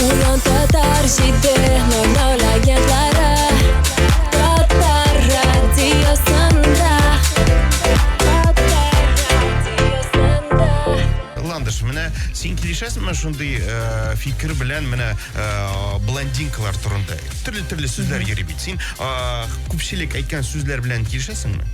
Уран татар җиде ноль син килешәсеңме шундый э, фикер белән менә э, блондинкалар турында төрле төрле сүзләр йөри бит син э, күпчелек әйткән сүзләр белән килешәсеңме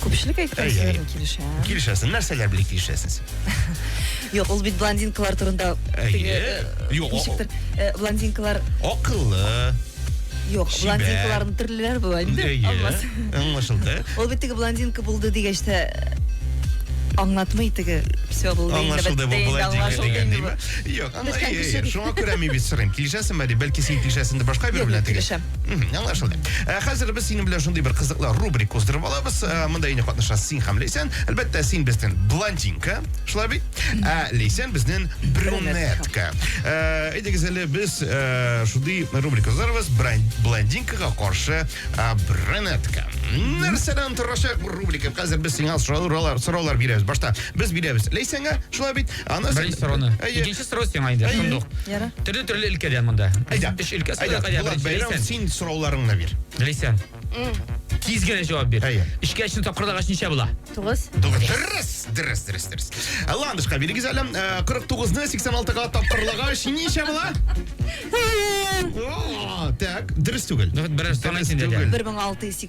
күпчелек әйткән сүзләр белән килешәм килешәсең нәрсәләр белән килешәсез Юк, ул бит блондинкалар турында. Әйе. Юк, ничектер, э, блондинкалар акыллы. Юк, блондинкаларның төрлеләре була инде. Алмаз. Аңлашылды. Ул бит теге блондинка булды дигәч тә аңлатмый теге все булды. Аңлашылды бу булай дигәнне. Юк, аңлашылды. Шуңа күрә мин бит сорыйм. Килешәсеңме әле? Бәлки син килешәсеңдер башка бер белән теге. Мхм, аңлашылды. Ә хәзер без синең белән шундый бер кызыклы рубрика уздырып алабыз. Ә, Монда инде катнашасыз син һәм Лейсән. Әлбәттә, син безнең блондинка, шулай бит? Ә Лейсән безнең брюнетка. Ә, Әйдәгез әле без ә, шундый рубрика уздырабыз. Бран- Блондинкага каршы ә, брюнетка. Нәрсәдән торачак бу рубрика? Хәзер без сиңа сораулар, сораулар бирәбез. Башта без бирәбез Лейсәнгә, шулай бит? Аны Беренче соруны. Әйе. Икенче сорау сиңа инде. Әйе. Шундук. Ярар. Төрле төрле өлкәдән монда. Әйдә. Өч өлкә Әйдә, сайлап әйдә. Булат Беренче Бәйрәм, Ләйсән. син сорауларыңны бир. Ләйсән. Тиз генә җавап бир. Әйе. Өчкә өчне тапкырдагач ничә була? Тугыз. Тугыз. Дөрес, дөрес, дөрес, дөрес. Ә, Ландышка бирегез әле. Ә, 49-ны 86-га тапкырлагач ничә була? О, Так, дөрес түгел. Ну, вот берәр сан Дөрес әйтсен дә. түгел. Бер мең алты йөз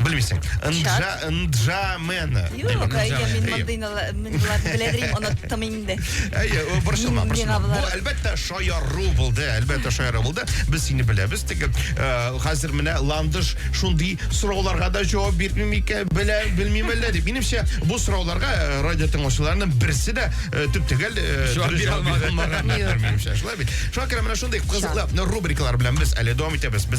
Белмисең. Нджа, нджа мена. Юк, әйе, мин мондый мендыларны беләдерим, оныттым инде. Әйе, борчылма, борчылма. Бу, әлбәттә, шаяру булды, әлбәттә, шаяру булды. Без сине беләбез, теге, э, хәзер менә Ландыш шундый сорауларга да җавап бирми микән, белә, белмим әллә дип. Минемчә, бу сорауларга э, радио тыңлаучыларының берсе дә э, төп түгел, җавап бирә алмаган. Шулай бит. Шакир, менә шундый кызыклы рубрикалар белән без әле дәвам итәбез. Без